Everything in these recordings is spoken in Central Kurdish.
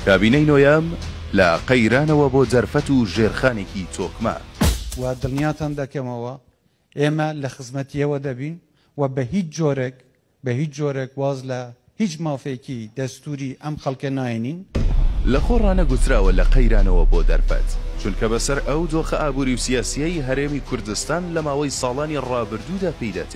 کابینەی نۆیەم لە قەیرانەوە بۆ جەرفەت و ژێرخانێکی تۆکمە. و دڵنیاتان دەکەمەوە ئێمە لە خزمەتییەوە دەبین و بە هیچ جۆرێک، بە هیچ جۆرێک واز لە هیچ مافێکی دەستووری ئەم خەڵکە ناێنین. لە خۆ ڕانەگوتراوە لە قەیرانەوە بۆ دەرفەت، چونکە بەسەر ئەو دۆخە ئابووری و سیاسییەی هەرێمی کوردستان لە ماوەی ساڵانی ڕابردوودا پێیدا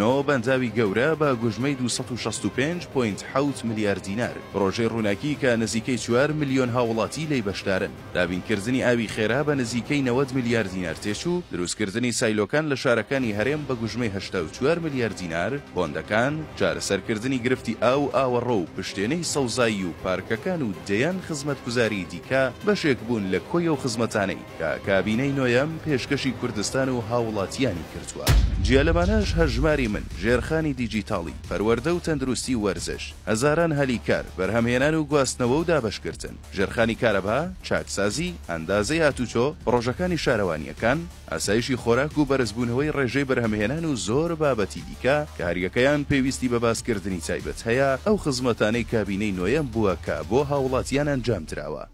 نۆ بەنداوی گەورە بە گوژمەی دوو سەد و شەست و پێنج پۆینت حەوت ملیار دینار، پڕۆژەی ڕووناکی کە نزیکەی چوار ملیۆن هاووڵاتی لێی بەشدارن، دابینکردنی ئاوی خێرا بە نزیکەی نەوەد ملیار دینار تێچوو، دروستکردنی سایلۆکان لە شارەکانی هەرێم بە گوژمەی هەشتا و چوار ملیار دینار، بۆندەکان، چارەسەرکردنی گرفتی ئاو و ئاوەڕۆ و پشتێنەی سەوزایی و پارکەکان و دەیان خزمەتگوزاریی دیکە بەشێک بوون لە کۆی ئەو خزمەتانەی کە کابینەی نۆیەم پێشکەشی کوردستان و هاوڵاتیانی کردووە. جیا لەمانەش هەژماری من، ژێرخانی دیجیتاڵی، پەروەردە و تەندروستی و وەرزش، هەزاران هەلی کار، بەرهەمهێنان و گواستنەوە و دابەشکردن، ژێرخانی کارەبا، چاکسازی، ئەندازەی هاتوچۆ، پڕۆژەکانی شارەوانییەکان، ئاسایشی خۆراک و بەرزبوونەوەی ڕێژەی بەرهەمهێنان و زۆر بابەتی دیکە کە هەریەکەیان پێویستی بە باسکردنی تایبەت هەیە، ئەو خزمەتانەی کابینەی نۆیەم بووە کە بۆ هاوڵاتیان ئەنجامدراوە.